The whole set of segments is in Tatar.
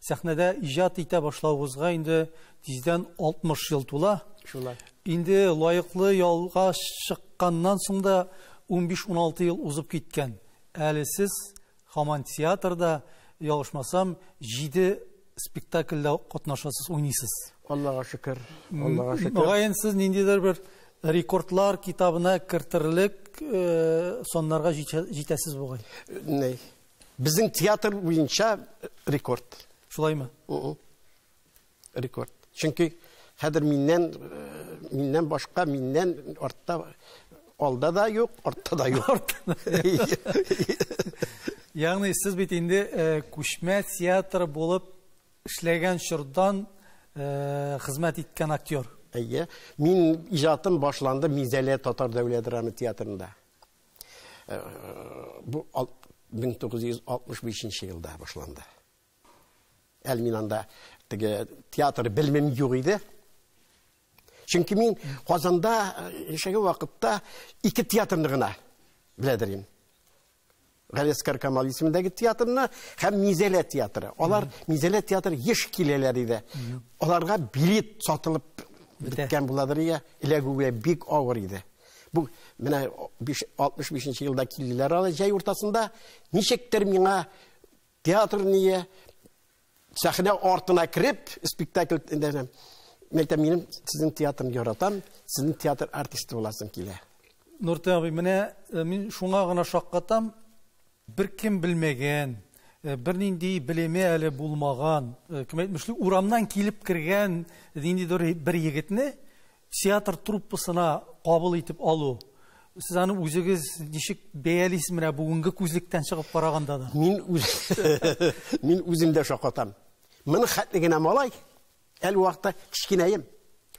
Сәхнәдә иҗат итә башлавыгызга инде тиздән 60 ел тула. Шулай. Инде лаеклы ялга чыкканнан соң да 15-16 ел узып киткән. Әле сез хаман театрда, ялгышмасам, җиде спектакльдә катнашасыз, уйныйсыз. Аллага шөкер, Аллага шөкер. Мөгаен сез ниндидер бер рекордлар китабына кертерлек э, саннарга җитәсез бугай. Ней. Безнең театр буенча рекорд. Шулаймы? Рекорд. Чөнки хәзер миннән э, миннән башка миннән артта алда да юк, артта да юк. Ягъни сез бит инде э, күчмә театр булып эшләгән чордан э, хезмәт иткән актер. Әйе. Мин иҗатым башланды Мизәлә татар дәүләт драма театрында. Бу 1965 елда башланды. Әле мин анда теге театр белмим юк иде. Чөнки мин Казанда яшәгән вакытта ике театрны гына беләдер идем. Галескар Камал исемендәге театрны һәм Мизәлә театры. Алар Мизәлә театры еш киләләр иде. Аларга билет сатылып беткән буладыр ия. Эләгүгә бик авыр иде. Бу менә 65 нче елда килделәр алар җәй уртасында. Ничектер миңа театр ние сәхнә артына кереп спектакль дәнем. Мен әйтәм, минем сезнең театрны яратам, сезнең театр артисты буласым килә. Нуртән абый, менә э, мин шуңа гына шаккатам, бер кем белмәгән, э, бернинди белеме әле булмаган, э, кем әйтмешли, урамнан килеп кергән ниндидер бер егетне Театр труппасына кабул итеп алу, сез аны үзегез ничек бәялисез менә бүгенге күзлектән чыгып караганда да? Мин үз мин үзем дә шакатам. Мин хәтле генә малай, әле вакытта кечкенәем.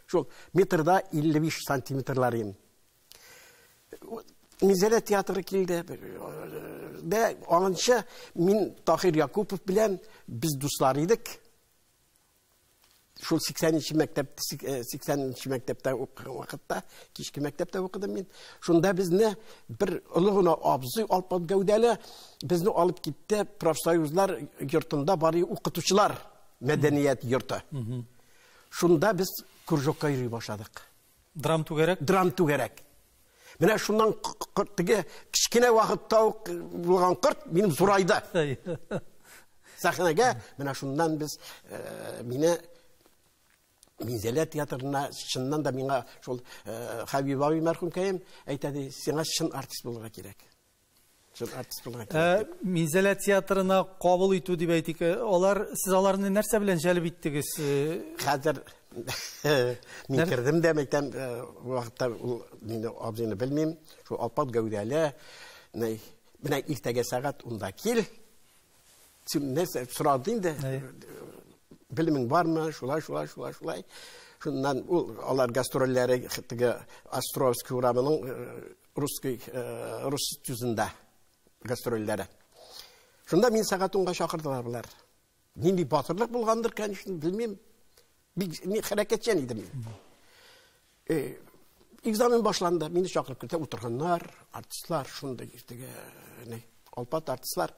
Шул метрда 55 сантиметрлар идем. Мизәлә театры килде. Дә анынча мин Тахир Якупов белән без дуслар идек. Шул 80 нче мәктәп 80 нче мәктәптә укыган вакытта, кичке мәктәптә укыдым мин. Шунда безне бер олы гына абзый алпат гәүдәле безне алып китте профсоюзлар йортында бары укытучылар мәдәният йорты. Шунда без кружокка йөри башладык. Драм түгәрәк? Драм түгәрәк. Менә шуннан теге кечкенә вакытта ук булган кырт минем зурайда. Сәхнәгә менә шуннан без э, мине Минзәлә театрына чыннан да миңа шул э, Хәбиб абый мәрхүмкәем әйтә ди, сиңа чын артист булырга кирәк. Ә Минзәлә театрына кабул итү дип әйтик, э, алар сез аларны нәрсә белән җәлеп иттегез? Э? Хәзер мин кердем дә мәктәп э, вакытта ул мине абзыйны белмим, шул алпат гәүдәле, менә иртәгә сәгать унда кил. Син нәрсә сорады инде? Белемең бармы? Шулай, шулай, шулай, шулай. Шуннан ул алар гастрольләре Островский урамының русский, э, рус тюзында гастрольдәре. Шунда мин сәгать унга чакырдылар болар. Нинди батырлык булгандыр, конечно, белмим. Бик мин хәрәкәтчән идем мин. Э, экзамен башланды, мине чакырып китә утырганнар, артистлар шунда иртәгә, не, алпат артистлар.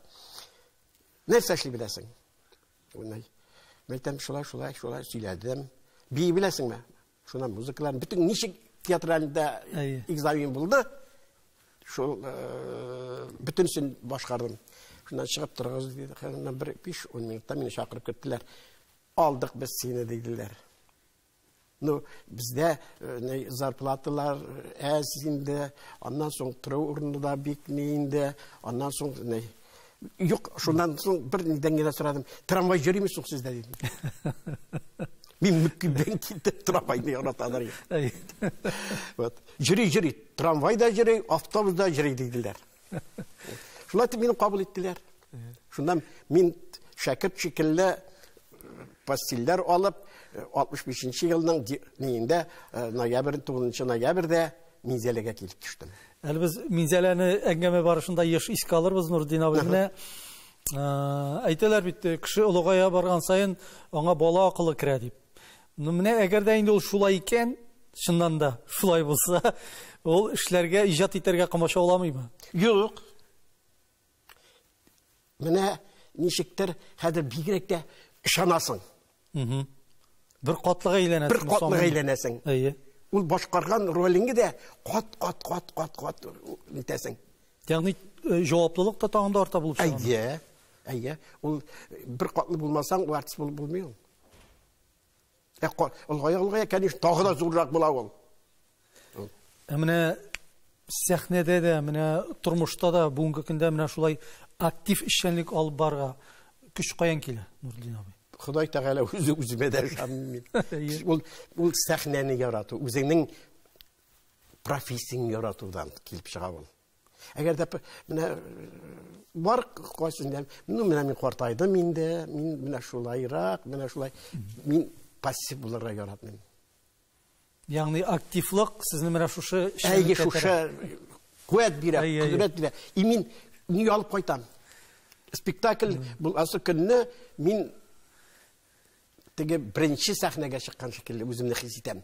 Нәрсә эшли беләсең? Унай. Мәйтәм шулай, шулай, шулай сөйләдем. Бии беләсеңме? Шуннан музыкаларын бөтен ничек театральда экзамен булды. Шул э, бөтенсен башкардым. Шуннан чыгып торыгыз диде. Хәзернән бер 5-10 минутта мине чакырып кеттеләр. Алдык без сине диделәр. Ну, бездә э, зарплаталар әз инде, аннан соң тору урыны да бик ни инде, аннан соң Юк, шуннан соң бер нидән генә сорадым. Трамвай йөрими соң сездә дидем. Мин мөккибдән китеп трамвайны яраталар. Вот. Йөри, йөри, трамвай да йөри, автобус да йөри диделәр. Шулай итеп мине кабул иттеләр. Шуннан мин шәкерт шикелле пастилләр алып, 65 елның ноябрь 9 ноябрьдә Минзәләгә килеп төштем. Әле без Минзәләне әңгәмә барышында еш искә алырбыз, Нурдин абый. Менә әйтәләр бит, кеше олыгая барган саен аңа бала акылы керә дип. Ну менә әгәр дә инде ул шулай икән, чыннан да шулай булса, ул эшләргә, иҗат итәргә комачауламыймы? Юк. Менә ничектер хәзер бигрәк тә ышанасың. Бер катлыга әйләнәсең. Бер катлыга әйләнәсең. Әйе. Ул башкарган ролеңе дә кат кат кат кат кат итәсең. Ягъни э, җаваплылык та тагын да арта булып чыга. Әйе. Әйе. Ул бер катлы булмасаң, ул артист булып булмый ул. Ә олгая олгая, конечно, тагы да зуррак була ул. Ә менә сәхнәдә дә, менә тормышта да бүгенге көндә менә шулай актив эшчәнлек алып барга көч каян килә, Нурдин абый? Ходай Тәгалә үзе үземә дә ышанмый. Ул ул сәхнәне ярату, үзеңнең профессияңне яратудан килеп чыга ул. Әгәр дә менә бар кайсында, ну менә мин картайдым инде, мин менә шулайрак, менә шулай мин пассив булырга яратмыйм. Ягъни активлык сезне менә шушы Әйе, шушы куәт бирә, кудрәт бирә. И мин ни алып кайтам? Спектакль буласы көнне мин теге беренче сәхнәгә чыккан шикелле үземне хис итәм.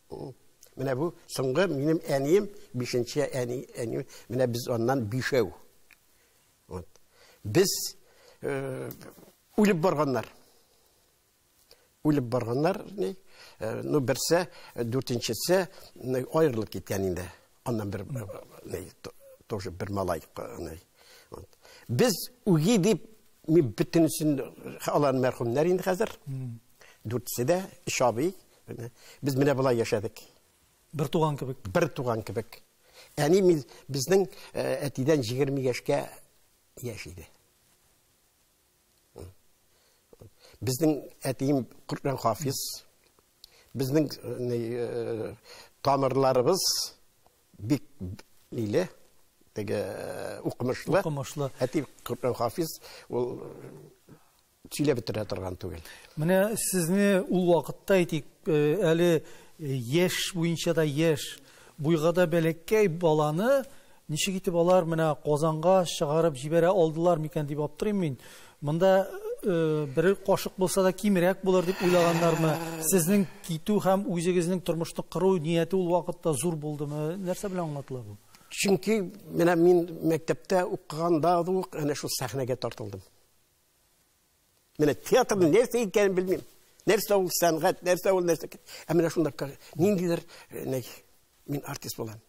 Менә бу соңгы минем әнием, бишенче әни, әни, менә без аннан бишәү. Вот. Без э, үлеп барганнар. Үлеп барганнар, не? Э, ну, берсе, э, дүртенчесе аерылып киткән инде. Аннан бер, не, тоже бер малай. Не. Вот. Без үги дип, мин бөтенесен алан мәрхүмнәр инде хәзер. Дүртесе дә, шабый, Менә без менә болай яшәдек. Бер туган кебек. Бер туган кебек. Әни мин безнең э, әтидән 20 яшькә яшь иде. Безнең әтием Коръән хафиз. Безнең э, э, тамырларыбыз бик ниле, теге укымышлы. Укымышлы. Әти Коръән хафиз, ул сөйләп бетерә торган түгел. Менә сезне ул вакытта әйтик, э, әле э, яшь буенча да яшь, буйга да бәләкәй баланы ничек итеп алар менә Казанга чыгарып җибәрә алдылар микән дип аптырыйм мин. Монда э, бер кашык булса да кимрәк булыр дип уйлаганнармы? Сезнең китү һәм үзегезнең тормышны кыру нияте ул вакытта зур булдымы? Нәрсә белән аңлатыла бу? Чөнки менә мин мәктәптә укыганда ук әнә шул сәхнәгә тартылдым. Менә театрның нәрсә икәнен белмим. Нәрсә ул сәнгать, нәрсә ул нәрсә. Ә менә шунда ниндидер э, мин артист булам.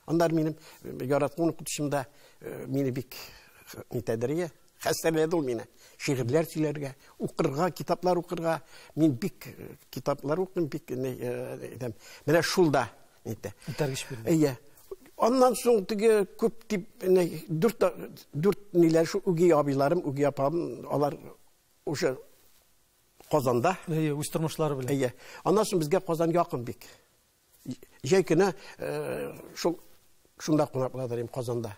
Аннар минем э, яраткан укытучымда э, мине бик нитәдерия, хәстәрләде ул мине. Шигырьләр сөйләргә, укырга, китаплар укырга. Мин бик китаплар укыйм, бик итәм. Менә шулда әйтә. Үтәргеч бирелә. Әйе. Аннан соң теге күп дип, дүрт дүрт ниләр шу үги абыйларым, үги апам, алар уже Казанда. Әйе, үз тормышлары белән. Әйе. Аннан соң безгә Казан якын бик. Җәй көне э, шул шунда кунак булдырым Казанда.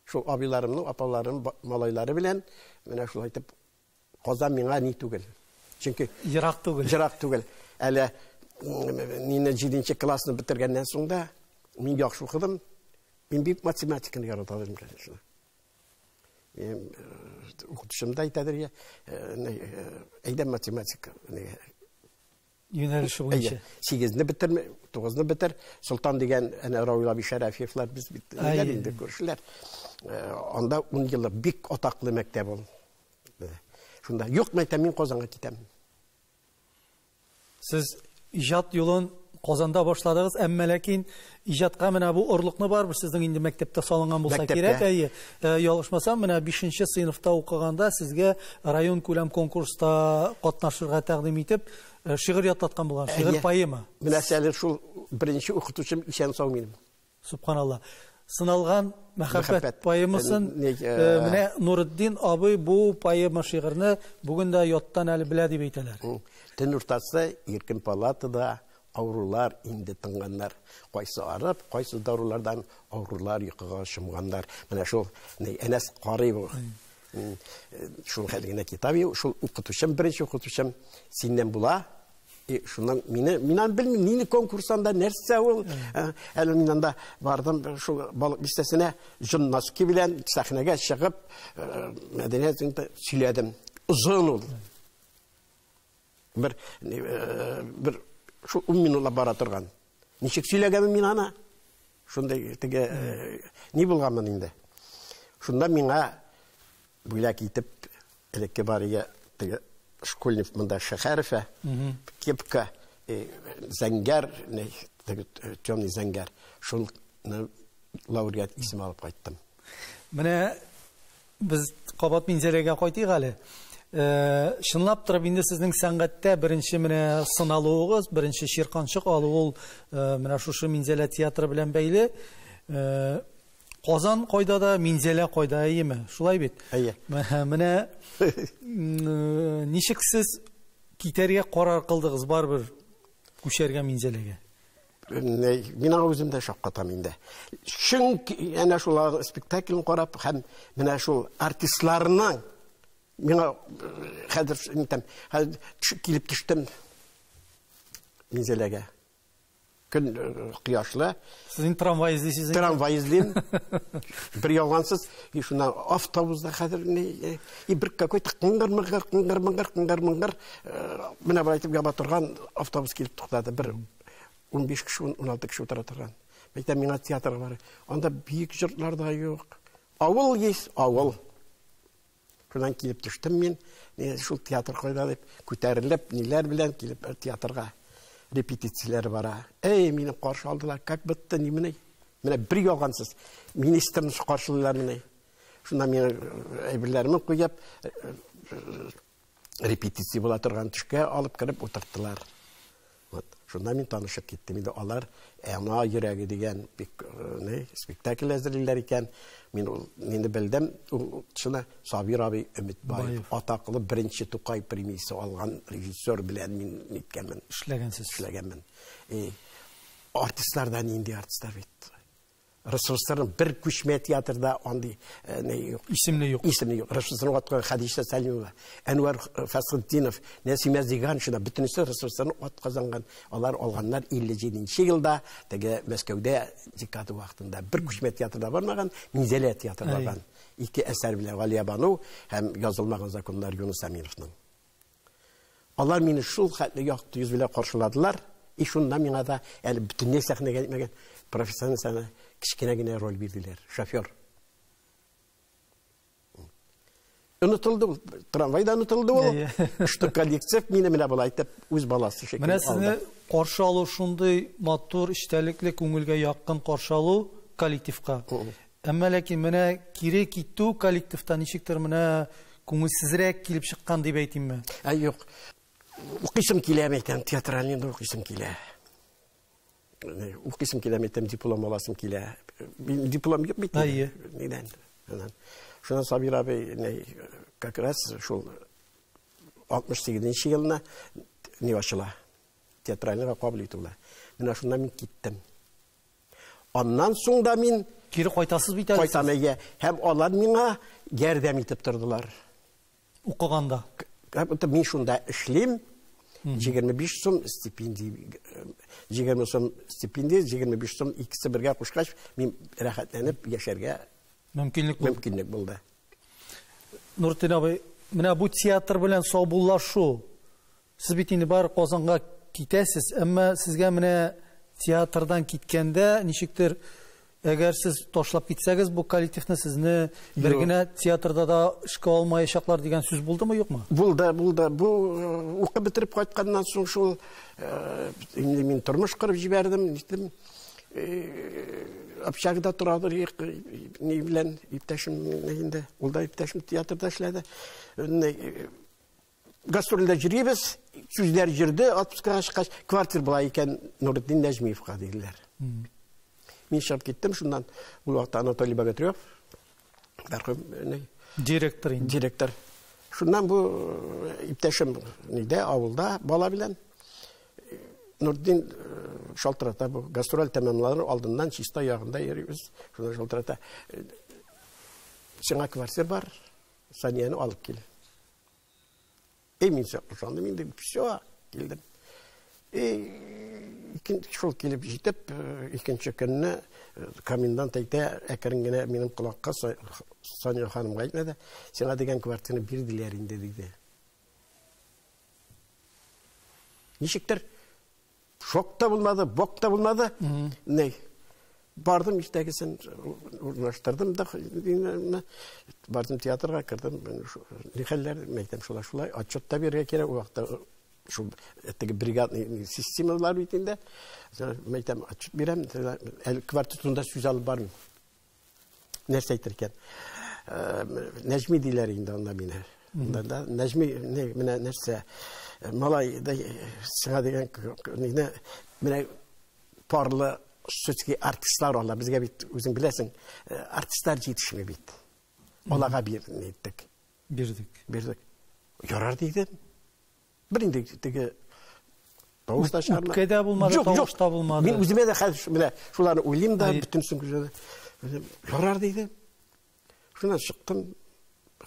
Шул абыйларымның, апаларым, малайлары белән менә шулай итеп Казан миңа ни түгел. Чөнки ерак түгел. Ерак түгел. Әле мине 7 классны бетергәннән соң да мин яхшы укыдым. Мин бик математиканы ярата идем, конечно. Мин укытучым да әйтәдер, әйдә математика, юнәлеше буенча. Сигезне бетер, тугызны бетер. Солтан дигән әнә Равил абый Шәрәфиевлар без бит инде күршеләр. Э, анда ун еллык бик атаклы мәктәп ул. Э, шунда юк мәйтә мин Казанга китәм. Сез иҗат юлын Казанда башладыгыз, әмма ләкин Иҗатка менә бу орлыкны барыбер сезнең инде мәктәптә салынган булса Мәктәптә. кирәк, әйе. Э, Ялгышмасам, менә 5 сыйныфта укыганда сезгә район күләм конкурста катнашырга тәкъдим итеп, э, шигырь ятлаткан булган, шигырь Әйе. поэма. Менә әле шул беренче укытучым исән сау минем. Субханалла. Сыналган мәхәббәт Мәхәббәт. поэмасын Э, не- э, э, менә Нуретдин абый бу поэма шигырьне бүген дә яттан әле белә дип әйтәләр. Төн уртасы иркен палатада Авырулар инде тынганнар. Кайсы арып, кайсы дарулардан авырулар йокыга чумганнар. Менә шул Әнәс карый бу. Шул хәл генә китап юк. Шул укытучым, беренче укытучым синнән була. И шуннан мине мин аны белмим, нинди конкурсында нәрсә ул. Әле мин анда бардым, шул балык бистәсенә җон носки белән сәхнәгә чыгып, мәдәният сөйләдем. Озын ул. Бер бер шул 10 минутлап бара торган. Ничек сөйләгәнмен мин аны? Шундай теге ни булганмын инде. Шунда миңа бүләк итеп элекке бария теге школьник монда Шәһәрфә, кепка, зәңгәр, теге темный зәңгәр. Шул лауреат исеме алып кайттым. Менә Без кабат Минзәләгә кайтыйк әле. Чынлап торып инде сезнең сәнгатьтә беренче менә сыналуыгыз, беренче чирканчык алу ул менә шушы Минзәлә театры белән бәйле. Казан кайда да, Минзәлә кайда, әйеме? Шулай бит? Әйе. Менә ничек сез китәргә карар кылдыгыз барыбер күчәргә Минзәләгә? Мин аңа үзем дә шаккатам инде. Чөнки әнә шул спектакльне карап һәм менә шул артистларның миңа хәзер әйтәм, хәзер килеп төштем Минзәләгә. Көн кояшлы. Сез инде трамвай эзлисез. Трамвай эзлим. Бер ялгансыз, и шуна автобуста хәзер ни и бер какой то кыңгыр мыңгыр кыңгыр мыңгыр кыңгыр мыңгыр менә бер әйтеп яба торган автобус килеп туктады. Бер 15 кеше, 16 кеше утыра торган. Әйтә миңа театрга бар. Анда бик җыртлар да юк. Авыл ес, авыл. Шуннан килеп төштем мин. Мин шул театр кайда дип күтәрелеп, ниләр белән килеп э, театрга репетицияләр бара. Әй, мине каршы алдылар, как битте, ни менә. Менә бер ялгансыз. Министрны каршылыйлар менә. Шуннан мин э, әйберләремне куеп, э, репетиция була торган төшкә алып кереп утырттылар. Вот. Шунда мин танышып киттем. Инде алар Әма йөрәге дигән бик э, спектакль әзерлиләр икән. Мин ул инде белдем. Ул шуна Сабир абый Өметбаев атаклы беренче Тукай премиясе алган режиссер белән мин ниткәнмен. Эшләгәнсез. Эшләгәнмен. И артистлардан инде артистлар бит. ресурсларның бер күчмә театрда андый э, не юк. Исемле юк. Исемле юк. Ресурсларны аткан Хәдичә Сәлимова, Әнвәр э, Фәсхетдинов, Нәсимә Зиганшина бөтенесе ресурсларны ат казанган. Алар алганнар 57 елда, теге Мәскәүдә декада вакытында бер күчмә театрда бармаган, Минзәлә театрда барган. Ике әсәр белән Галия Бану һәм язылмаган законнар Юнус Аминовның. Алар мине шул хәтле якты йөз белән каршыладылар, и шунда миңа да әле бөтенләй сәхнәгә китмәгән профессиональ сәхнә кечкенә генә роль бирделәр, шофер. Онытылды ул, трамвайда онытылды ул. Что коллектив мине менә болай итеп үз баласы шикелле алды. Менә сезне каршы алу шундый матур, эчтәлекле, күңелгә якын каршы алу коллективка. Әмма ләкин менә кире китү коллективта ничектер менә күңелсезрәк килеп чыккан дип әйтимме? Ә юк. Укыйсым килә микән театральный инде укыйсым килә. Укыйсым килә микән диплом аласым килә. Диплом юк бит. Әйе. Нидән? Шуннан Сабир абый как раз шул 68 елына не ачыла. Театральныйга кабул итүләр. Менә шуннан мин киттем. Аннан соң да мин Кире кайтасыз бит әле. Кайтам әйе. Һәм алар миңа ярдәм итеп тордылар. Укыганда. Мин шунда эшлим. 25 сум стипендия, 20 сум стипендия, 25 сум икесе бергә кушкач, мин рәхәтләнеп яшәргә мөмкинлек булды. Мөмкинлек булды. Нуртин абый, менә бу театр белән саубуллашу Сез бит инде бар Казанга китәсез, әмма сезгә менә театрдан киткәндә ничектер Әгәр сез ташлап китсәгез, бу коллективны сезне бер генә театрда да эшкә алмаячаклар дигән сүз булдымы, юкмы? Булды, булды. Бу э, укып бетереп кайтканнан соң шул э, инде мин тормыш кырып җибәрдем, ниттем. Э, общагда торадыр ни белән иптәшем инде. Ул да иптәшем театрда эшләде. Гастрольдә җөрибез, сүзләр җөрде, отпускага чыккач, квартир була икән Нуретдин Нәҗмиевка диделәр. Мин чыгып киттем шуннан. Ул вакытта Анатолий Богатырев, мәрхүм э, директор инде. Директор. Шуннан бу э, иптәшем нидә авылда бала белән Нурдин э, шалтырата бу гастроль тәмамланыр алдыннан чиста ягында йөрибез. Шунда шалтырата. Э, сиңа квартир бар, Санияне алып кил. И мин сокландым инде, все, килдем. И шул килеп җитеп, э, икенче көнне э, комендант әйтә, әкрен генә минем колакка Соня ханымга әйтмәде, сиңа дигән квартираны бирделәр инде диде. Ничектер Шок та булмады, бок та булмады. Ней. Бардым иртәгесен урнаштырдым да бардым театрга кердем. Ни хәлләр? Мәйтәм шулай шулай. Отчет та бирергә кирәк. Ул вакытта шул теге бригадный системалар бит инде. Мәйтәм отчет бирәм. Әле квартетында сүз алып бармыйм. нәрсә әйтер икән нәҗми диләр инде анда мине да нәҗми менә нәрсә малай да сиңа дигән мине менә парлы шутский артистлар алар безгә бит үзең беләсең артистлар җитешми бит аларга бир иттек бирдек бирдек ярар дидем Бер инде теге тавыш та чыгармады. Үпкә дә булмады, Юк, тавыш та булмады. Мин үземә дә хәзер менә шуларны уйлыйм да, бөтен сүңгүләрне. Үзем ярар диде. Шуннан чыктым.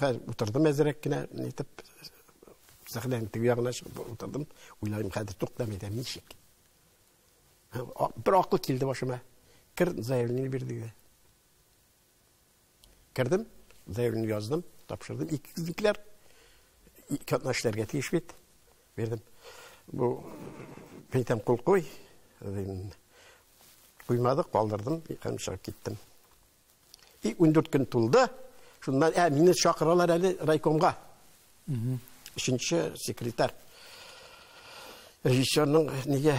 Хәзер утырдым әзрәк кенә, нитеп сәхнәнең теге ягына чыгып утырдым. Уйлайм, хәзер туктамый да ничек. Бер акыл килде башыма. Кер заявление бир диде. Кердем, заявлен яздым, тапшырдым. Икекләр ике атна эшләргә тиеш бит. Бердем. Бу битем кул куй. Куймады, калдырдым, һәм чыгып киттем. И 14 көн тулды. Шуннан ә мине чакыралар әле райкомга. Өченче секретарь. Режиссерның нигә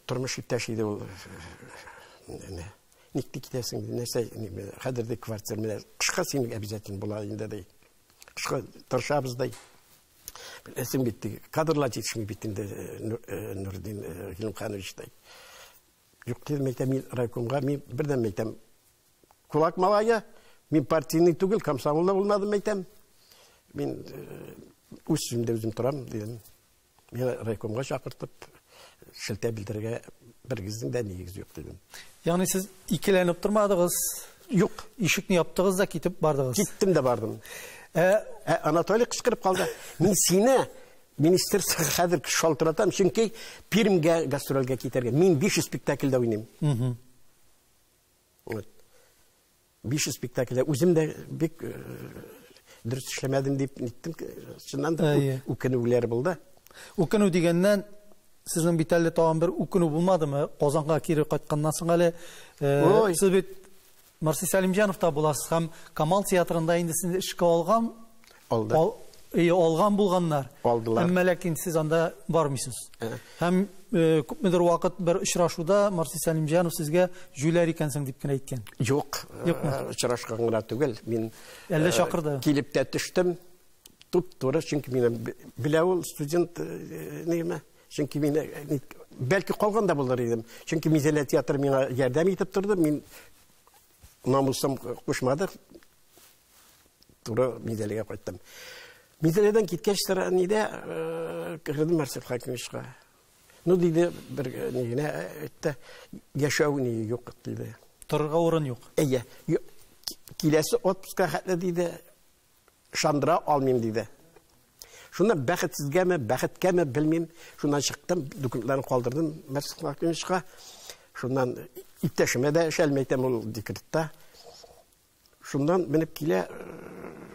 тормыш иптәш иде ул. Ник ти китәсең? Нәрсә, хәзер дә квартир менә кышка син обязательно була инде ди. Кышка тырышабыз ди. Беләсең бит, кадрлар җитешми бит инде Нурдин Гилмханович ди. Юк, дидем, әйтәм, мин райкомга, мин бердән әйтәм, кулак малая, мин партийный түгел, комсомолда булмадым әйтәм. Мин үз сүземдә үзем торам, дидем. Мин райкомга чакыртып, шелтә белдерергә бергезнең дә нигез юк дидем. Ягъни сез икеләнеп тормадыгыз? Юк. Ишекне яптыгыз да китеп бардыгыз. Киттем дә бардым. Ә, ә Анатолий кычкырып калды. Мин сине министерство хәзер шалтыратам, чөнки Пермьгә гастрольгә китәргә. Мин 500 спектакльдә уйныйм. Угу. Вот. 500 спектакльдә үзем дә бик дөрес эшләмәдем дип ниттем. Чыннан да үкенүләр булды. Үкенү дигәннән сезнең бит әле тагын бер үкенү булмадымы? Казанга кире кайтканнан соң әле сез бит Марси Сәлимҗанов та буласыз һәм Камал театрында инде сез эшкә алган Алды. Ал, и, алган булганнар. Алдылар. Әмма ләкин сез анда бармыйсыз. Ә. Һәм э, күпмедер вакыт бер очрашуда Марсис Сәлимҗанов сезгә җүләр икәнсең дип кенә әйткән. Юк, э, очрашкан гына түгел. Мин Әллә э, чакырды. Килеп тә төштем. Туп туры, чөнки мин белә ул студент э, нигеме? Чөнки мин бәлки калган да булыр идем. Чөнки Мизелә театры миңа ярдәм итеп торды. Мин намусым кушмады. туры Мизәлегә кайттым. Мизәледән киткәч тора нидә э, кердем Марсель Хакимовичка. Ну диде бер э, ни генә әйтте, э, яшәү ни юк диде. Торырга урын юк. Әйе. Киләсе отпуска хәтле диде, шандыра алмыйм диде. Шунда бәхетсезгәме, бәхеткәме белмим, шуннан чыктым, документларын калдырдым Марсель Хакимовичка. Шуннан иптәшемә дә эшәлмәйтәм ул декретта. Шуннан менеп килә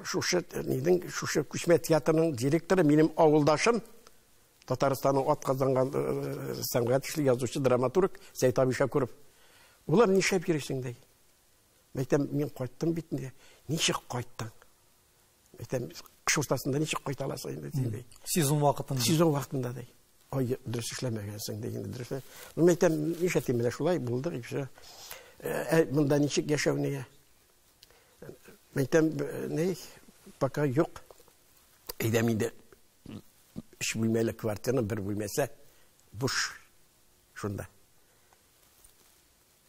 шушы нинең шушы күчмә театрының директоры минем авылдашым Татарстанның атказанган сәнгать эшле язучы драматург Сәйт Абишакуров. Улым, нишләп йөрисең ди? Мәйтәм, мин кайттым бит инде. Ничек кайттың? әйтәм кыш уртасында ничек кайта аласың инде дидей сезон вакытында сезон вакытында ди ай дөрес эшләмәгәнсең ди инде дөрес мин әйтәм нишләтим менә шулай булдык и все ә монда ничек яшәү нигә мин әйтәм ни пока юк әйдәм инде өч бүлмәле квартираны бер бүлмәсе буш шунда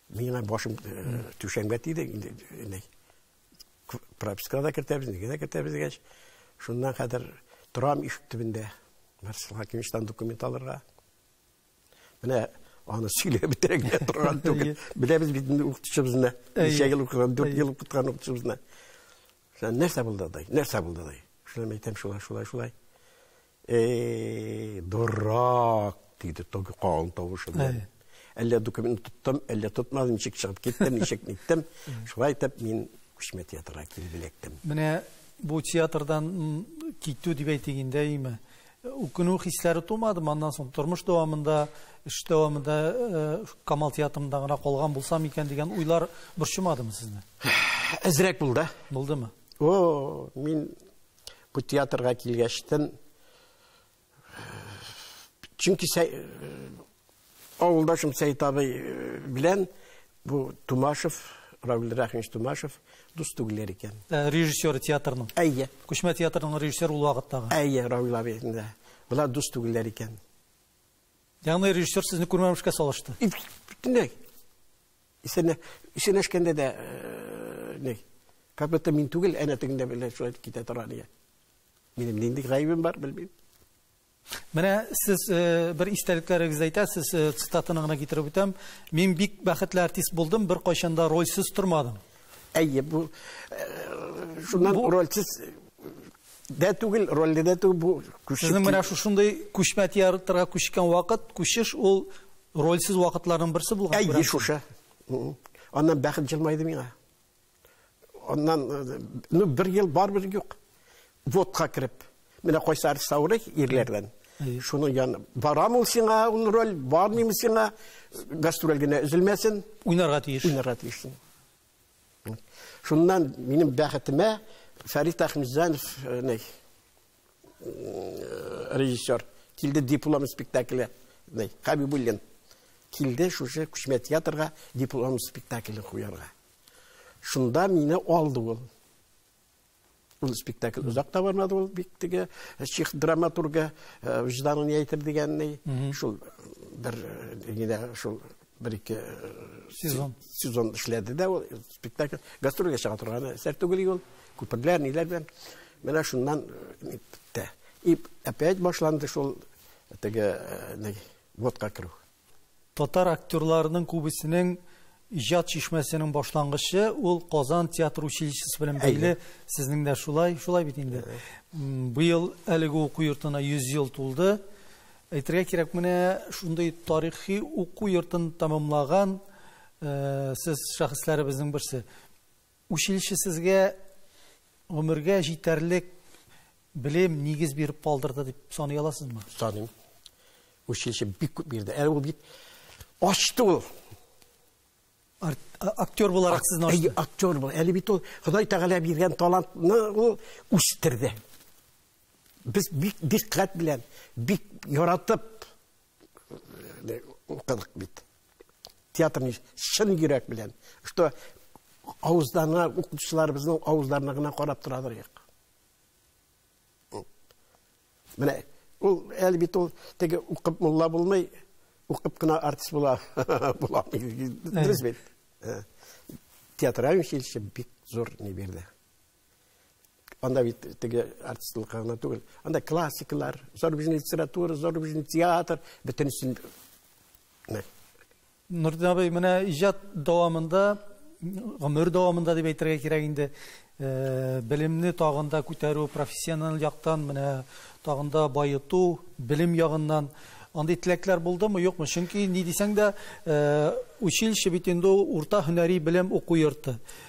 Миңа башым түшәмгә тиде инде ней. Пропискага да кертәбез, нигә дә кертәбез дигәч, шуннан хәзер торам ишек төбендә. Марсел Хакимовичтан документ алырга. Менә аны сөйләп бетерә генә торган түгел. Беләбез бит инде укытучыбызны. Ничә ел укыган, дүрт ел укыткан укытучыбызны. Нәрсә булды дай? Нәрсә булды дай? Шулай әйтәм, шулай, шулай, шулай. Эй, дурак! диде Тоги калын тавышы белән. Әллә документ тоттым, әллә тотмадым, ничек чыгып киттем, ничек ниттем. Шулай итеп мин күчмә театрга килеп эләктем. Менә бу театрдан китү дип әйтик инде, әйме? Үкенү хисләре тумады, аннан соң тормыш дәвамында, эш дәвамында Камал театрында гына калган булсам икән дигән уйлар борчымадымы сезне? Әзрәк булды. Булдымы? О, мин Бу театрга килгәчтен чөнки авылдашым Сәйт абый э, белән бу Тумашев, Равил Рәхимович Тумашев дус түгелләр икән. Э, режиссер театрның. Әйе. Күчмә театрның режиссер ул вакыттагы. Әйе, Равил абый. Болар дус түгелләр икән. Ягъни режиссер сезне күрмәмешкә салышты. Бөтенләй. Исәнә, исәнәшкәндә дә ни, как будто мин түгел, әнә тегендә белән шулай китә тора ди. Минем нинди гаебем бар, белмим. Менә сез э, бер истәлекләрегезне әйтәсез, э, цитатаны гына китереп үтәм. Мин бик бәхетле артист булдым, бер кайчан да рольсез тормадым. Әйе, бу э, шуннан рольсез дә түгел, рольдә дә түгел бу күчеп. Сезнең менә шушындый күчмә театрга күчкән вакыт, күчеш ул рольсез вакытларның берсе булган. Әйе, шушы. Аннан бәхет җылмайды миңа. Аннан э, ну бер ел бар бер юк. Водка кереп. Менә кайсы артист авырый ирләрдән. Шуны яны барам ул сиңа ул роль, бармыймы сиңа гастроль генә өзелмәсен. Уйнарга тиеш. Уйнарга тиеш. Шуннан минем бәхетемә Фәрит Әхмизанов э, э, режиссер килде диплом спектакле Хабибуллин килде шушы күчмә театрга диплом спектаклен куярга. Шунда мине алды ул. Ул спектакль озак та бармады, ул бик теге чих драматурга вижданын әйтер дигәнней. Шул бер генә шул бер ике сезон сезон эшләде дә ул спектакль гастрольгә чыга торган әсәр түгел ул күперләр ниләр белән менә шуннан бетте и опять башланды шул теге водка керү Татар актерларының күбесенең иҗат чишмәсенең башлангычы ул Казан театр училищесы белән бәйле. Сезнең дә шулай, шулай бит инде. Быел әлеге уку йортына 100 ел тулды. Әйтергә кирәк, менә шундый тарихи уку йортын тәмамлаган сез шәхесләребезнең берсе. Училище сезгә гомергә җитәрлек белем, нигез биреп калдырды дип саный аласызмы? Саныйм. Училище бик күп бирде. Әле ул бит ачты ул. Актер буларак сезне ачты. Әйе, актер бул. Әле бит ул Ходай Тәгалә биргән талантны ул үстерде. Без бик дикъкать белән, бик яратып укыдык бит театрны чын йөрәк белән что авыздарына укытучыларыбызның авыздарына гына карап тора торыйк менә ул әле бит ул теге укып мулла булмый укып кына артист була була дөрес бит театральный училище бик зур не бирде анда бит теге артистлыкка гына түгел анда классикалар зарубежный литература зарубежный театр бөтенесен нурдин абый менә иҗат дәвамында гомер дәвамында дип әйтергә кирәк инде э, белемне тагын да күтәрү профессиональ яктан менә тагын да байыту белем ягыннан андый теләкләр булдымы юкмы чөнки ни дисәң дә э, училище бит инде урта һөнәри белем уку йорты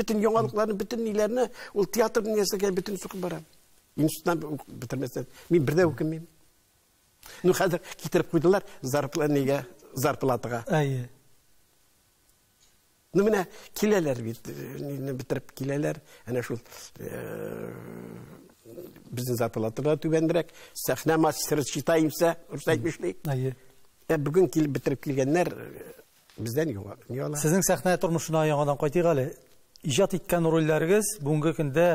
Бөтен яңалыкларны, бөтен ниләрне ул театр дөньясына бөтен сукып барам. Институтны бетермәсәм, мин бер дә үкенмим. Ну хәзер китереп куйдылар зарплатага, зарплатага. Әйе. Ну менә киләләр бит, э, бетереп киләләр. Әнә шул э, безнең зарплатага түбәнрәк, сәхнә мастеры читаемса, русча әйтмешли. Әйе. Ә бүген килеп бетереп килгәннәр э, Бездән юга, ни ала? Сезнең сәхнә тормышына яңадан кайтыйк әле. Иҗат иткән рольләрегез бүгенге көндә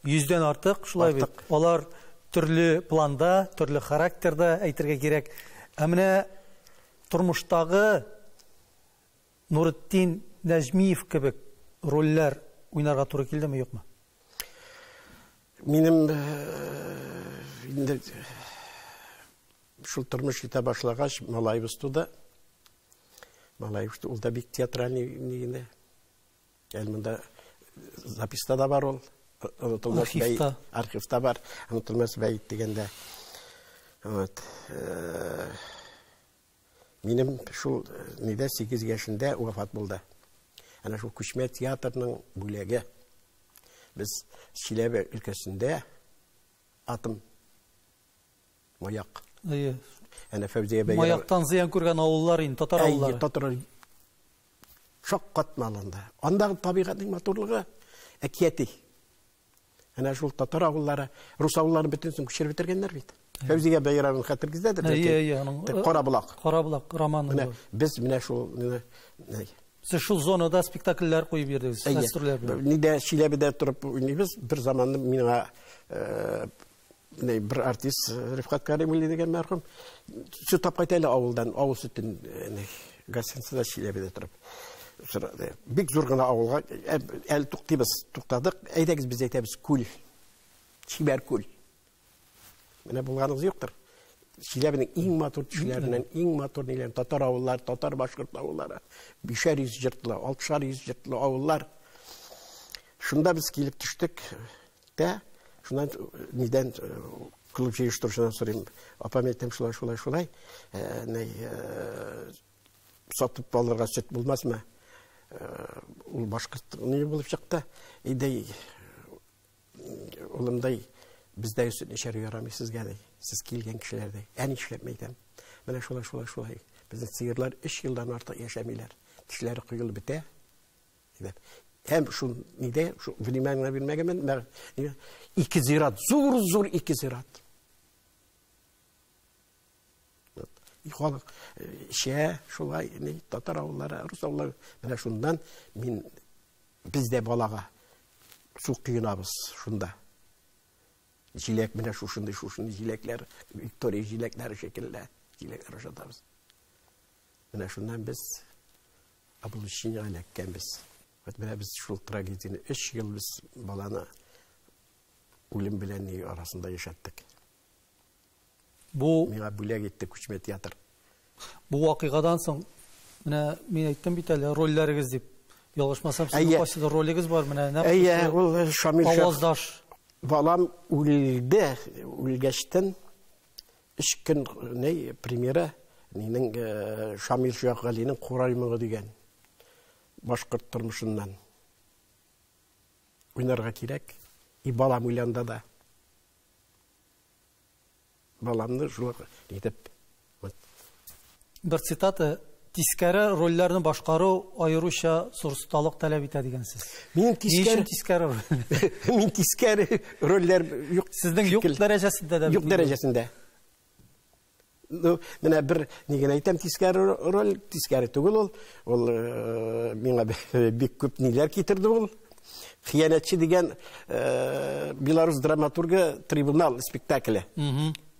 йөздән артык, шулай бит? Артык. Алар төрле планда, төрле характерда әйтергә кирәк. Ә менә тормыштагы Нуретдин Нәҗмиев кебек рольләр уйнарга туры килдеме, юкмы? Минем э, инде шул тормыш китә башлагач, малаебыз туды. Малай ул да бик театральный генә. Әле монда записта да бар ул. Онытылмас архивта. Архивта бар. Онытылмас бәйт дигәндә. Вот. Э, минем шул э, нидә 8 яшендә вафат булды. Әнә шул күчмә театрның бүләге. Без Чиләбе өлкәсендә атым Маяк. Әйе. Әнә Фәүзия бәйрәм. Маяктан зыян күргән авыллар инде, татар авыллары. Әйе, татар. Шак катналында. Андагы табигатьнең матурлыгы әкияти. Әнә шул татар авыллары, рус авылларын бөтенесен күчереп бетергәннәр бит. Фәүзия бәйрәмен хәтергездәдер. Әйе, әйе, аның. Карабулак. Карабулак романы. Менә без менә шул Сез шул зонада спектакльләр куеп йөрдегез, гастрольләр белән. Нидә Чиләбедә торып уйныйбыз, бер заманны миңа менә бер артист э, Рифкат Каримулли дигән мәрхүм сөт алып кайта әле авылдан, авыл сөтен э, гостиницада Чиләбедә торып сорады. Бик зур гына авылга э, әле туктыйбыз, туктадык. Әйдәгез без әйтәбез күл. Чибәр күл. Менә булганыгыз юктыр. Чиләбенең иң матур төшләреннән, иң матур ниләр, татар авыллары, татар башкорт авыллары, бишәр йөз җыртлы, алтышар йөз җыртлы авыллар. Шунда без килеп төштек. Тә, шуннан нидән клуб җыештыручыдан сорыйм. Апам әйтәм, шулай, шулай, шулай. Сатып алырга сөт булмасмы? Ул башкорт ни булып чыкты. Идей улымдай бездәге сөтне эчәргә ярамый сезгә ди. Сез килгән кешеләр ди. Әни эшләп мәйтәм. Менә шулай, шулай, шулай. Безнең сыерлар 3 елдан артык яшәмиләр. Тешләре коелып бетә. Димәк, һәм шул нидә, шул внимание бирмәгәнмен, мәгъ- ике зират, зур-зур ике зират. Вот. И Халык э, шә, шулай, ни, татар авыллары, рус авыллары, менә шуннан мин без дә балага су коенабыз шунда. Җиләк менә шушындый, шушындый җиләкләр, Виктория җиләкләре шикелле җиләкләр ашатабыз. Менә шуннан без облучение эләккәнбез. Вот менә без шул трагедияне 3 ел без баланы үлем белән ни арасында яшәттек. Бу миңа бүләк итте күчмә театр. Бу вакыйгадан соң менә мин әйттем бит әле рольләрегез дип. Ялгышмасам, сезнең кайсы ролегез бар менә нәкъ. Әйе, ул э, Шамил Аваздаш. Балам үлде, үлгәчтен Өч көн ни премьера минең Шамил Шәйхгалинең Курай моңы дигән башкорт тормышыннан уйнарга кирәк. И балам уйланда да. Баламны шулай итеп Бер цитата, Тискәре рольләрне башкару аеруча зур осталык таләп итә дигәнсез. Минем тискәре тискәре роль. Мин тискәре рольләр юк. Сезнең юк дәрәҗәсендә дә. Юк дәрәҗәсендә. Ну, менә бер ни генә әйтәм, тискәре роль, тискәре түгел ул. Ул э, миңа бик күп ниләр китерде ул. Хиянәтче дигән э, белорус драматургы трибунал спектакле.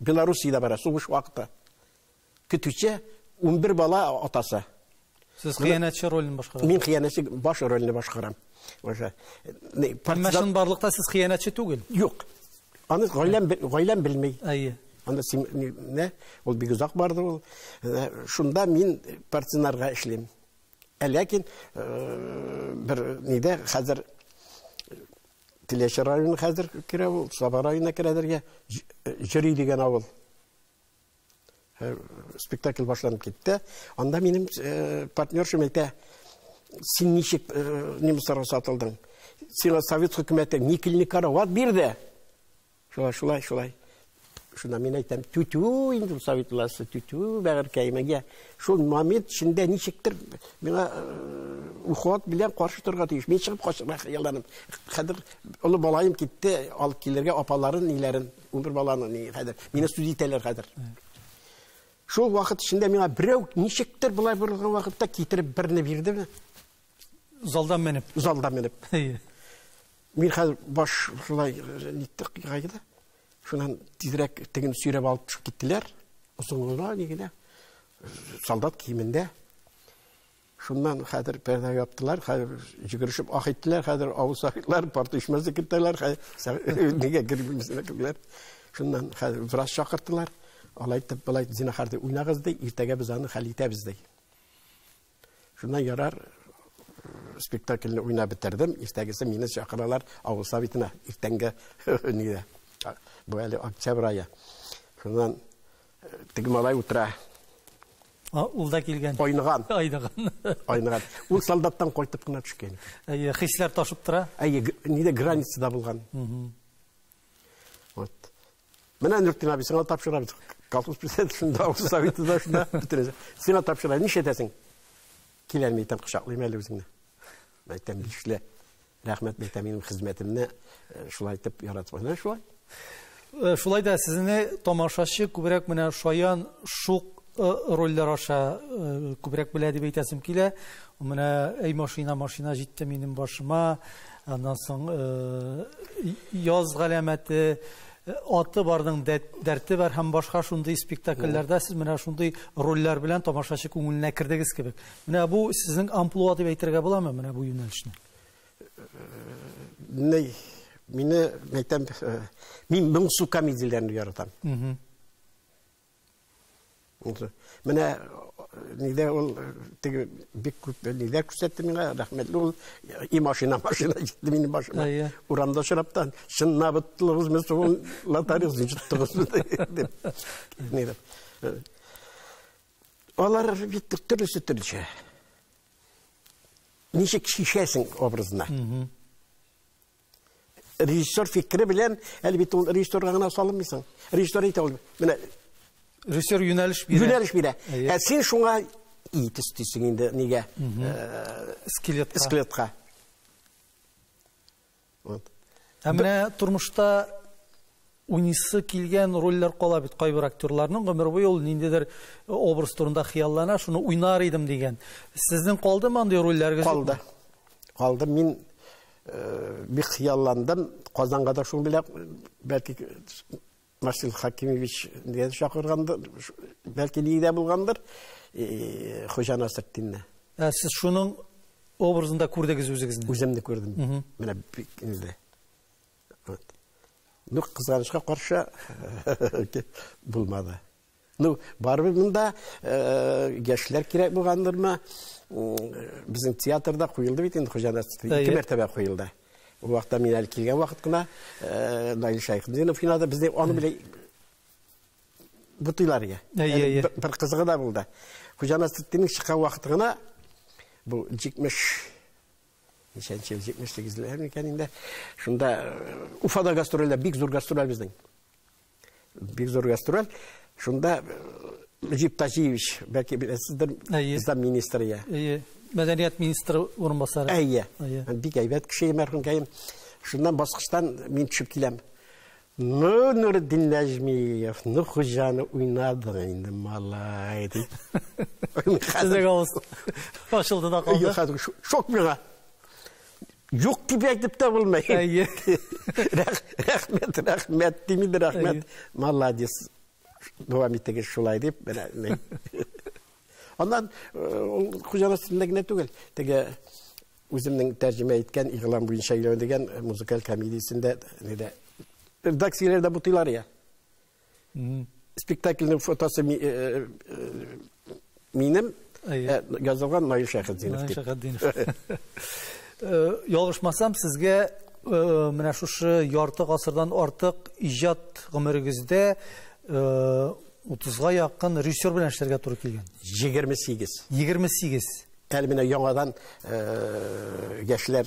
Белоруссиядә бара, сугыш вакыты. көтүче, унбер бала атасы. Сез хыянәтче ролен башкарасыз. Мин хыянәтче баш ролен башкарам. Уже. Әмма чынбарлыкта сез хыянәтче түгел. Юк. Аны гаиләм гаиләм белми. Әйе. Анда син не? Ул бик озак барды ул. Э, шунда мин партинарга эшлим. Ә ләкин э, бер нидә хәзер Теләче районы хәзер керә ул, Саба районына керәдергә Җөри дигән авыл. Спектакль башланып китте. Анда минем партнершым әйтә, син ничек немецларга сатылдың? Сиңа совет хөкүмәте никелне карават бирде. Шулай, шулай, шулай. Шунда мин әйтәм, түтү инде ул совет власте, түтү бәгырькәемегә. Шул момент эчендә ничектер миңа уход белән каршы торырга тиеш. Мин чыгып качарга хыялланам. Хәзер олы балаем китте, алып килергә апаларын, ниләрен. Унбер баланы мин хәзер, мине сүз итәләр хәзер. Шул вакыт эчендә миңа берәү ничектер болай борылган вакытта китереп берне бирдеме? Залдан менеп. Залдан менеп. Мин хәзер баш шулай ниттек кайгыда. Шуннан тизрәк теген сөйрәп алып төшеп киттеләр. Озынлыгы нигенә солдат киемендә. Шуннан хәзер пәрдә яптылар, хәзер җигерешеп ах иттеләр, хәзер авыл сахиблар парт ишмәсе кертәләр, нигә кермисезләр киләр. Шуннан хәзер врач чакырттылар. Алай итеп, былай зинахар дип уйнагыз ди, иртәгә без аны хәл итәбез ди. Шуннан ярар спектакльне уйнап бетердем. Иртәгесе мине чакыралар авыл советына. Иртәнгә нигә? Бу әле октябрь ае. Шуннан Теге малай утыра. А, ул да килгән. Айныган. Айныган. Айныган. Ул солдаттан кайтып кына төшкән. Әйе, хисләр ташып тора. Әйе, нидә границада булган. Вот. Менә Нуртин абый, сиңа тапшырабыз. Колхоз президенты шунда, авыл советы да шунда, бөтенесе. Сиңа тапшырабыз. Ничә әйтәсең? Киләлми итәм, кочаклыйм әле үзеңне. Мәйтәм, бишле. Рәхмәт бәйтә минем хезмәтемне шулай итеп яратып менә шулай. Шулай да сезне тамашачы күбрәк менә шаян шук рольләр аша күбрәк белә дип әйтәсем килә. Менә әй машина машина җитте минем башыма. Аннан соң яз галәмәте аты барның дәрте бар һәм башка шундый спектакльләрдә сез менә шундый рольләр белән тамашачы күңеленә кердегез кебек. Менә бу сезнең амплуа дип әйтергә буламы менә бу юнәлешне? Менә мине мәйтәм э, мин моң су комедияләрен яратам. Менә э, нидә ул э, теге бик күп нидә күрсәтте миңа, рәхмәтле ул и машина машина җитте минем башыма. Урамда шыраптан чынна быттылыгыз мен сугыл латарыз җиттыгыз дип. Нидә. Алар бит төрлесе төрлечә. Ничек шишәсең образына? Режиссер фикере белән, әлбәттә, ул режиссерга гына салынмыйсың. Режиссер әйтә ул, менә режиссер юнәлеш бирә. Юнәлеш бирә. Ә син шуңа ит өстисең инде, нигә? Э, Скелетка. Скелетка. Вот. Ә менә тормышта уйныйсы килгән рольләр кала бит кайбер актерларның гомер буе ул ниндидер образ турында хыяллана, шуны уйнар идем дигән. Сезнең калдымы андый рольләрегез? Калды. Калды. Мин э, бик хыялландым. Казанга да шуның белән бәлки Марсил Хакимович дигән чакыргандыр, бәлки нигә булгандыр, Хуҗа Насретдинне. Ә сез шуның образында күрдегез үзегезне? Үземне күрдем. Менә бик инде. Вот. Ну, кызганычка каршы булмады. Ну, барыбер монда яшьләр кирәк булгандырмы? Безнең театрда куелды бит инде Хуҗа Насретдин. Ике мәртәбә куелды. Ул вакытта мин әле килгән вакыт кына Наил Шәйхетдинов уйнады. Бездә аны белән бутыйлар иде. Бер кызыгы да булды. Хуҗа Насретдинның чыккан вакыты гына бу 70 ничәнче ел 78 ләр микән инде. Шунда Уфада гастрольләр, бик зур гастрольләр безнең. Бик зур гастроль. Шунда Мөҗип э, Таҗиевич, бәлки беләсездер, Ислам министры я. Әйе. Мәдәният министры урынбасары. Әйе. Бик әйбәт кеше мәрхүмкәем. Шуннан баскычтан мин төшеп киләм. Ну, Нурдин Нәҗмиев, ну хуҗаны уйнадың инде, малай, ди. Сезгә авыз ашылды да калды. Шок миңа. Юк дип әйтеп тә булмый. Әйе. Рәхмәт, рәхмәт, дими дә рәхмәт. Молодец. Дәвам итегез шулай дип, менә. Аннан ул э, хуҗаның өстендә генә түгел, теге үземнең тәрҗемә иткән игълан буенча өйләнү дигән музыкаль комедиясендә редакцияләрдә бутыйлар я. Спектакльнең фотосы минем, язылган Наил Шәхетдинов дип. Наил Шәхетдинов. Ялгышмасам, сезгә менә шушы ярты гасырдан артык иҗат гомерегездә 30-га якын режиссер белән эшләргә туры килгән. 28. 28. Әле менә яңадан яшьләр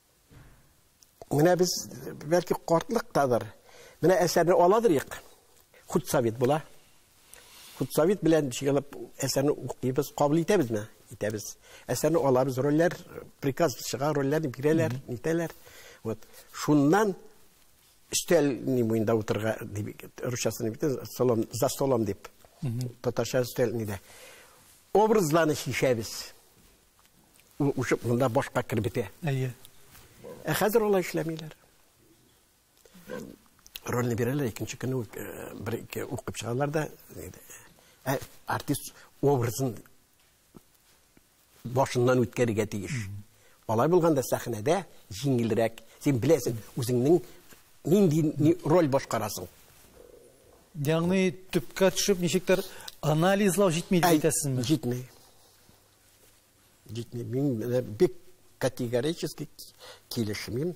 Менә без бәлки картлыктадыр. Менә әсәрне аладырыйк. Худсовет була. Худсовет белән җыелып әсәрне укыйбыз, кабул итәбезме? Итәбез. Әсәрне алабыз, рольләр, приказ чыга, рольләрне бирәләр, итәләр. Вот. Шуннан өстәл ни буенда утырга дип русчасын бит столом за столом дип татарча өстәл нидә образларны шешәбез Ул учып монда башка кереп бетә. Әйе. Ә хәзер алай эшләмиләр. Рольне бирәләр, икенче көнне үк, э, бер ике укып чыгалар да, ә артист образын башыннан үткәрергә тиеш. Алай булганда сәхнәдә җиңелрәк. Син беләсең, үзеңнең нинди ни, роль башкарасың. Ягъни төпкә төшеп ничектер анализлау җитми дип әйтәсезме? Җитми. Җитми. Мин менә бик категорически килешмим.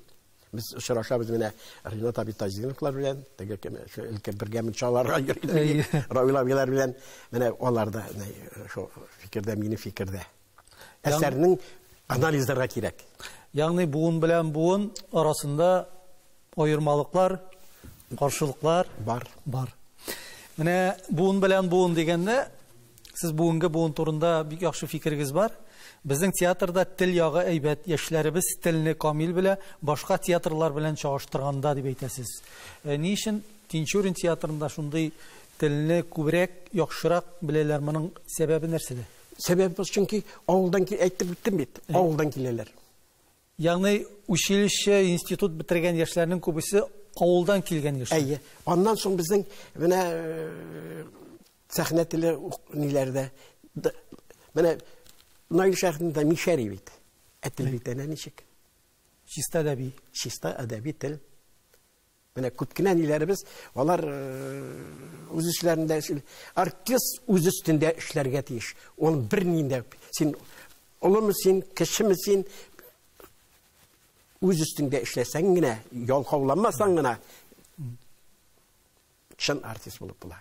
Без очрашабыз менә Ринат абый Тазиновлар белән, теге кем, шул өлкән бергә мунчаларга йөриләр. Равил абыйлар белән менә алар да шул фикердә, минем фикердә. Әсәрнең анализларга кирәк. Ягъни буын белән буын арасында аермалыклар, каршылыклар бар. Бар. Менә буын белән буын дигәндә, Сез бүгенге буын турында бик яхшы фикерегез бар. Безнең театрда тел ягы әйбәт, яшьләребез телне камил белә, башка театрлар белән чагыштырганда, дип әйтәсез. Э, ни өчен Тинчурин театрында шундый телне күбрәк, яхшырак беләләр? Моның сәбәбе нәрсәдә? Сәбәбе чөнки авылдан әйтеп үттем бит, авылдан киләләр. Ягъни училище, институт бетергән яшьләрнең күбесе авылдан килгән яшьләр. Әйе. Аннан соң безнең менә сәхнә теле ниләрдә. Менә Наил шәһәрендә Мишәри бит. Ә тел бит әнә ничек? Чиста әдәби. Чиста әдәби тел. Менә күп кенә ниләребез, алар үз эшләрендә эшли. Артист үз өстендә эшләргә тиеш. Ул бер ниндә син олымы син, кешеме син үз өстендә эшләсәң генә, ялкауламасаң гына Чын артист булып була.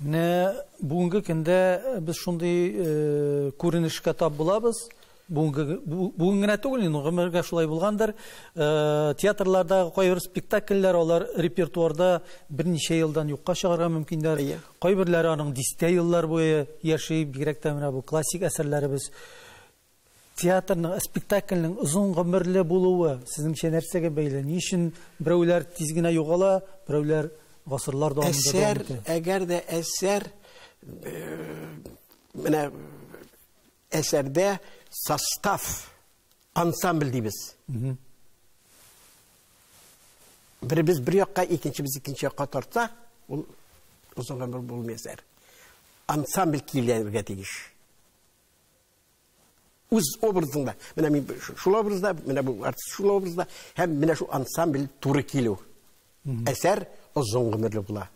Менә бүгенге көндә без шундый күренешкә тап булабыз. Бүгін генә түгел, инде гомергә шулай булгандыр. Э, театрларда кайбер спектакльләр алар репертуарда берничә елдан юкка чыгарга мөмкиннәр. Кайберләре аның дистә еллар буе яши, бигрәк тә менә бу классик әсәрләребез. Театрның, спектакльнең озын гомерле булуы сезнеңчә нәрсәгә бәйле? Ни өчен берәүләр тиз генә югала, берәүләр гасырлар дәвамында дәвам итә? Әсәр, әгәр дә әсәр, менә әсәрдә состав, ансамбль дибез. Беребез бер якка, икенчебез икенче якка тарта, ул озын гомер булмый әсәр. Ансамбль килергә тиеш. үз образыңда менә мин шул образда менә бу артист шул образда һәм менә шул ансамбль туры килү әсәр озын гомерле була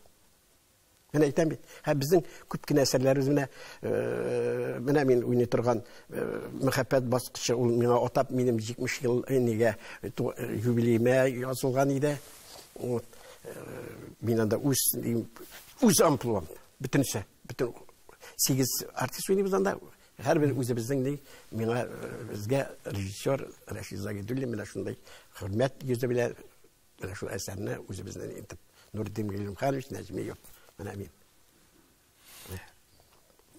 Мен әйтәм бит, һә безнең күп кенә әсәрләребез менә э, менә мин уйный торган э, мәхәббәт баскычы ул миңа атап минем 70 ел нигә э, юбилеемә язылган иде. Вот. Мин анда үз үз амплуам. Бөтенесе, бөтен сигез артист уйныйбыз анда. Һәрбер үзебезнең ни, миңа безгә режиссер Рәшид Загидуллин менә шундый хөрмәт йөзе белән менә шул әсәрне үзебезнең итеп Нурдин Гыйлемханович Нәҗмиев менә мин.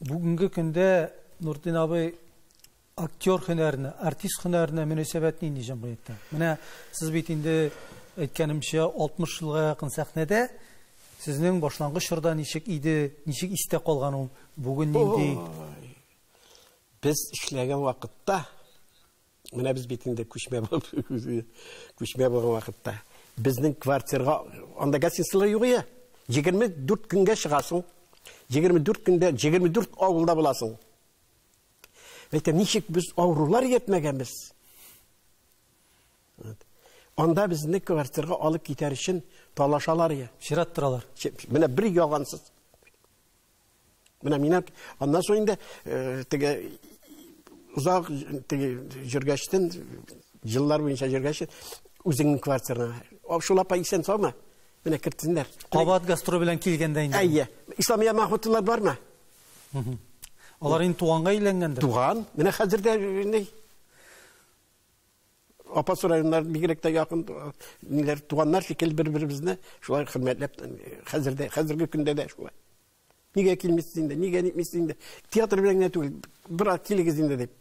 Бүгенге көндә Нурдин абый Актер һөнәренә, артист һөнәренә мөнәсәбәт нинди җәмгыятьтә? Менә сез бит инде әйткәнемчә 60 елга якын сәхнәдә. Сезнең башлангыч чорда ничек иде, ничек истә калган ул, бүген нинди? Ой. Без эшләгән вакытта, менә без бит инде күчмә булып, күчмә булган вакытта, безнең квартирга анда гостиницалар юк иде. 24 көнгә чыгасың. 24 көндә 24 авылда буласың. Әйтәм, ничек без авырулар йөртмәгәнбез? Анда безне квартирга алып китәр өчен талашалар я. Чират торалар. Менә бер ялгансыз. Менә мин аннан соң инде э, теге озак теге җөргәчтен җыллар буенча җөргәч үзеңнең квартираңа. Шул апа исән саумы? Менә кертсеннәр. Кабат гастроль белән килгәндә инде. Әйе. Исламия Махмутовлар бармы? Алар инде туганга әйләнгәндер. Туган. Менә хәзер дә инде апасы районнар бигрәк тә якын ниләр туганнар шикелле бер-беребезне шулай хөрмәтләп хәзер дә хәзерге көндә дә шулай. Нигә килмисез инде? Нигә нитмисез инде? Театр белән генә түгел, бер килегез инде дип.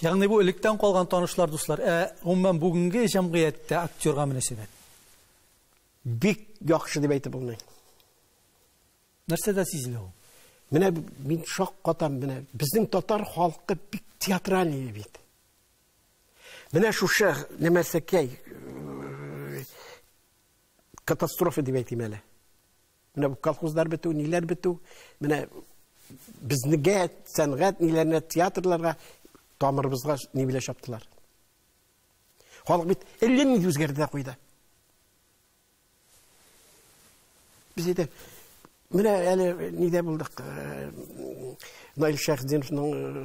Ягъни бу электән калган танышлар, дуслар. Ә гомумән бүгенге җәмгыятьтә актерга мөнәсәбәт бик яхшы дип әйтеп булмый. Нәрсә дә сизелә ул. Менә мин шаккатам менә. Безнең татар халкы бик театральный бит. Менә шушы нәмәсәкәй э, катастрофа дип әйтим әле. Менә бу колхозлар бетү, ниләр бетү. Менә безнеге сәнгать ниләренә театрларга тамырыбызга ни белә чаптылар. Халык бит элем үзгәрде куйды. Без әйтә, менә әле нидә булдык, э, Наил Шәхзиновның э,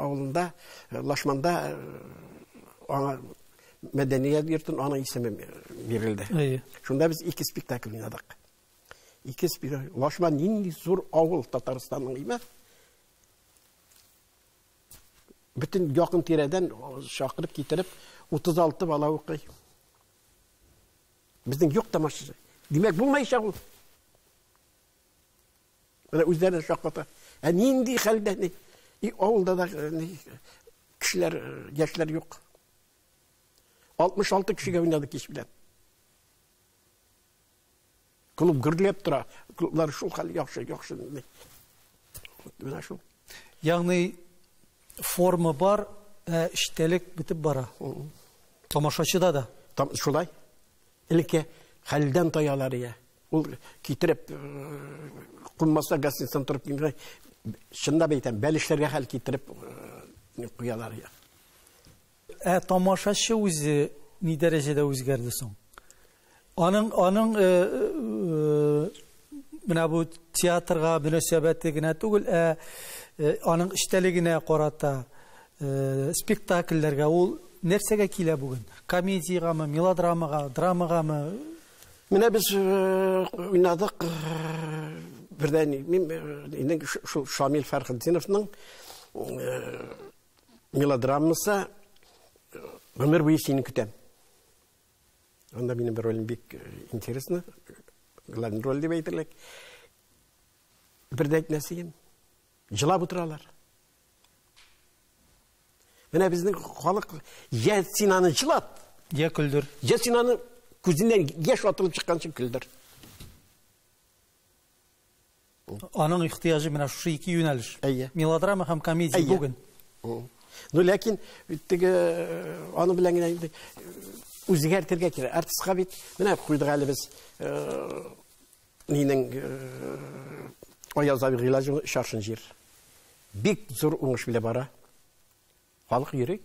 авылында, э, Лашманда аңа мәдәният йортын аның исеме бирелде. Шунда без ике спектакль уйнадык. Ике спектакль. Лашман нинди зур авыл Татарстанның име? Бөтен якын тирәдән чакырып китереп 36 бала укый. Безнең юк та машина. Димәк, булмаячак ул. Менә үзләрен шакката. Ә нинди хәлдә ни? И авылда да э, ни кешеләр, э, яшьләр юк. 66 кешегә уйнады кич белән. Клуб гөрләп тора. Клублар шул хәл яхшы, яхшы. Менә шул. Ягъни форма бар, ә эчтәлек бетеп бара. Тамашачыда да. Там шулай. Элекке хәлдән таялар я. Ул китереп кунмаса гостиницадан торып кингән чынлап әйтәм, бәлешләргә хәл китереп куялар я. Ә тамашачы үзе ни дәрәҗәдә үзгәрде соң? Аның аның э, э, менә бу театрга мөнәсәбәте генә түгел, ә э, аның эчтәлегенә карата э, спектакльләргә ул нәрсәгә килә бүген? Комедиягәме, мелодрамага, драмагамы? Менә без э, уйнадык э, бердән мин э, инде шул Шамил Фәрхетдиновның мелодрамасы гомер буе сине көтәм анда минем бер ролем бик интересно главный роль дип әйтерлек бер дә әйтмәсен жылап утыралар менә безнең халык я син аны жылат я көлдер я син аны күзеннән яшь атылып чыкканчы көлдер Аның ихтыяҗы менә шушы ике юнәлеш. Әйе. Мелодрама һәм комедия бүген. Ну, ләкин теге э, аны белән генә инде э, үзгәртергә кирәк. Артистка бит менә куйдык әле без э, минең Аяз абый Гыйлаҗевның Шаршын җир. Бик зур уңыш белән бара. Халык йөри.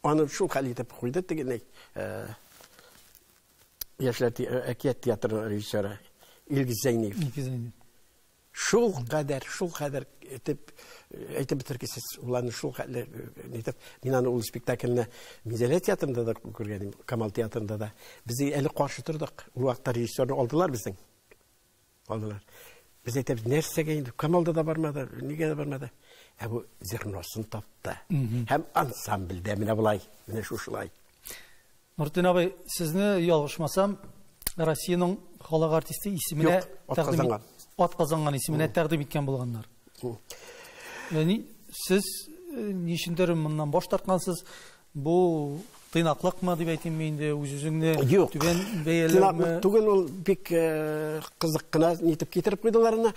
Аны шул хәл итеп куйды тегеней. Яшьләр әкият театрының режиссеры Илгиз Зәйниев. Илгиз Зәйниев. Шул кадәр, шул кадәр итеп әйтеп бетергесез. Ул аны шул хәтле итеп, мин аны ул спектакльне Минзәлә театрында да күргән идем, Камал театрында да. Без әле каршы тордык. Ул вакытта режиссерны алдылар безнең. Калдылар. Без әйтәбез, нәрсәгә инде, Камалда да бармады, нигә дә бармады. Ә бу зерносын тапты. Һәм ансамбльдә менә болай, менә шушылай. Нуртин абый, сезне ялгышмасам, Россиянең халык артисты исеменә тәкъдим ат казанган исеменә тәкъдим иткән булганнар. Яни сез ничендер моннан баш тарткансыз, Бу тыйнаклыкмы дип әйтимме инде, үз-үзеңне түбән бәяләүме? Юк, тыйнаклык түгел, ул бик кызык кына итеп китереп куйдылар аны.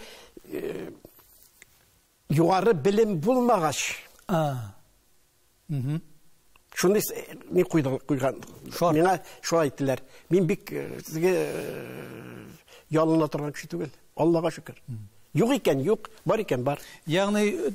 Югары белем булмагач, шундый ни куйган. Миңа шулай әйттеләр. Мин бик сезгә ялына торган кеше түгел. Аллага шөкер. Юк икән, юк, бар икән, бар. Ягъни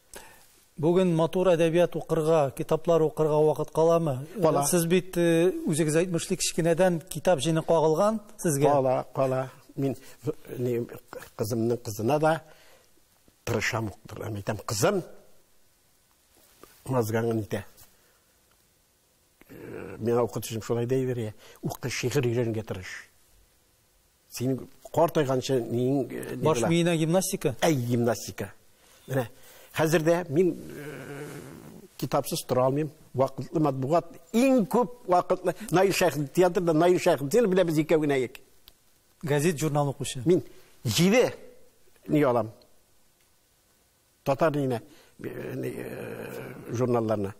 Бүген матур әдәбият укырга, китаплар укырга вакыт каламы? Кала. Сез бит э, үзегез әйтмешли кечкенәдән китап җыйны кагылган сезгә. Кала, кала. Мин не, кызымның кызына да тырышам укытырга. Әйтәм, кызым мазгаңын итә. Э, миңа укытучым шулай да әйбер, укы, шигырь өйрәнергә тырыш. Син картайганчы мин баш миенә гимнастика? Әй, гимнастика. Менә хәзер дә мин китапсыз тора алмыйм. Вакытлы матбугат иң күп вакытлы Наил Шәхи театрда Наил Шәхидин белән без икәү генә ек. Газет журнал укучы. Мин 7 ни алам. Татар иленә журналларына.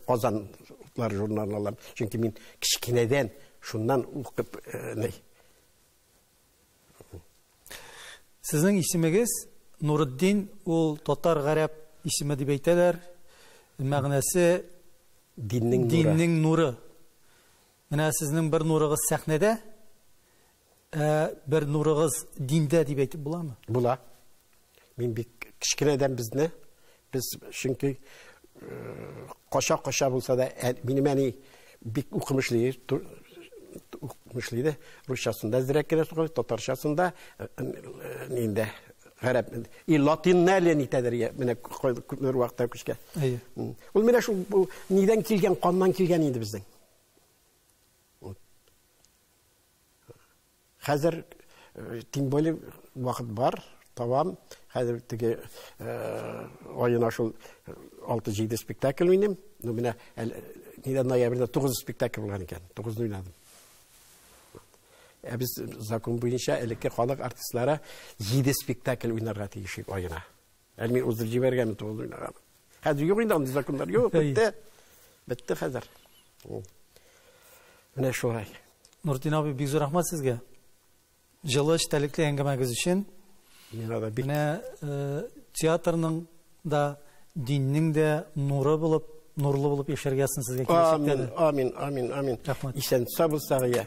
Казанлар журналларын. Чөнки мин кечкенәдән шуннан укып Сезнең исемегез Нурыддин, ул татар гарәп исеме дип әйтәләр. Мәгънәсе диннең нуры. Диннең нуры. Менә сезнең бер нурыгыз сәхнәдә. Ә бер нурыгыз диндә дип әйтеп буламы? Була. Мин бик кечкенәдән безне без чөнки кача-кача булса да минем әни бик укымышлы укымышлы иде. Русчасында әзрәк кенә сукыр, татарчасында инде гарәп и латинны әле нитәдер менә күпмедер вакытта күчкән. Ул менә шул нидән килгән, каннан килгән инде безнең. Хәзер, тем более, вакыт бар, табам. Хәзер теге аена шул 6-7 спектакль уйныйм. Ну, менә нидә ноябрьдә 9 спектакль булган икән. 9 уйнадым. Ә без закон буенча элекке халык артистлары 7 спектакль уйнарга тиеш аена. Ә мин узып җибәргән бит ул уйнаган. Хәзер юк инде андый законнар юк, бетте. Бетте хәзер. Менә шулай. Нуртин абый, бик зур рәхмәт сезгә. Җылы эчтәлекле әңгәмәгез өчен. Миңа да бик. Менә э, театрның да диннең дә нуры булып, нурлы булып яшәргә язсын сезгә киләчәктә. Амин, амин, амин, амин. Рәхмәт. Исән сау булсагыз.